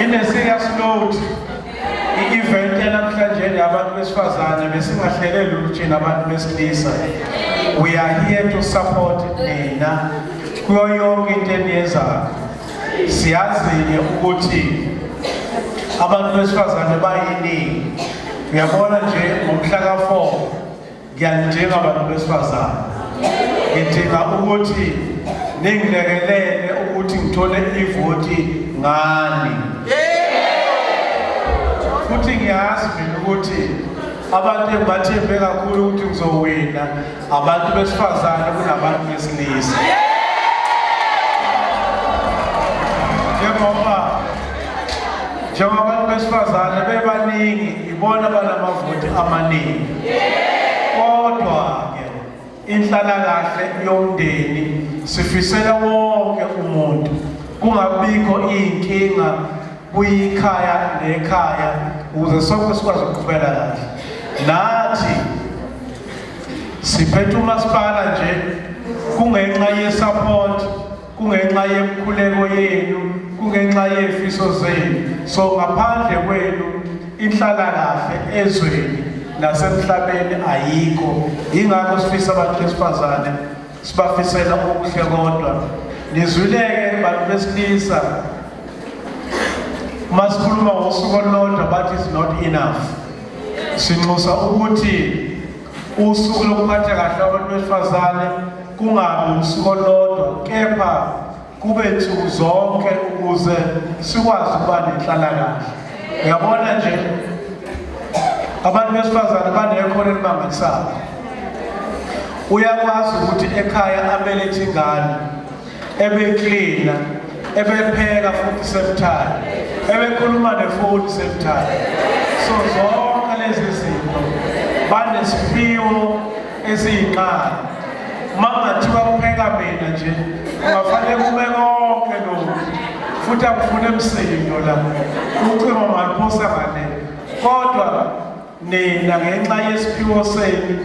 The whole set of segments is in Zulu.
Ine-serious note i-event yanamhlanje yabantu besifazane besingahlelele ukuthi nabantu besilisa we are here to support nina kuyo yonke into eniyenzayo siyazi-ke ukuthi abantu besifazane bayiningi uyabona nje ngomhla ka-four ngiyanidinga bantu besifazane ngidinga ukuthi ningilekelele ukuthi ngithole ivoti ngani futhi ngiyazi mina ukuthi abantu engibathembe kakhulu ukuthi ngizowina abantu besifazane kunabantu besilisa njengoba njengoba abantu besifazane bebaningi Ibona banamavoti amaningi. Kodwa-ke inhlalakahle yomndeni sifisela wonke umuntu kungabikho iy'nkinga kuyikhaya nekhaya ukuze sonke sikwazi ukuqhubela kahle nathi siphethe umasipala nje kungenxa yesupport kungenxa yemkhuleko yenu kungenxa yefiso zenu so ngaphandle kwenu inhlalakahle ezweni nasemhlabeni ayikho yingakho sifisa abantu besifazane sibafisela okuhle kodwa nizwileke bantu besilisa uma sikhuluma ngosuku olulodwa but is not enough sinxusa ukuthi Usuku lokuphatha kahle abantu besifazane kungabi usuku olodwa kepha kube nsuku zonke ukuze sikwazi ukuba nenhlalakahle uyabona nje abantu besifazane banekhono elimangalisayo uyakwazi ukuthi ekhaya abelethe ingane ebeklina ebepheka futhi same time ebekhuluma nefoni same time so zonke lezi zinto banesiphiwo esiyinqala uma kungathiwa kupheka mina nje kungafanele kume konke lokhu futhi akufune msindo la ucingo maliphosa ngane kodwa Nina ngenxa yesiphiwo senu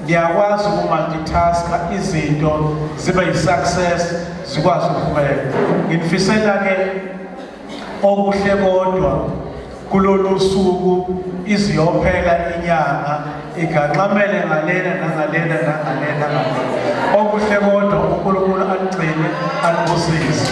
niyakwazi ukumultitaska izinto zibe yi-success zikwazi ukuqhubeka. Nginifiselake okuhle kodwa kulolu suku iziyophela inyanga iganxamele ngalena nangalena nangalena. Okuhle kodwa uNkulunkulu aligcine alibusise.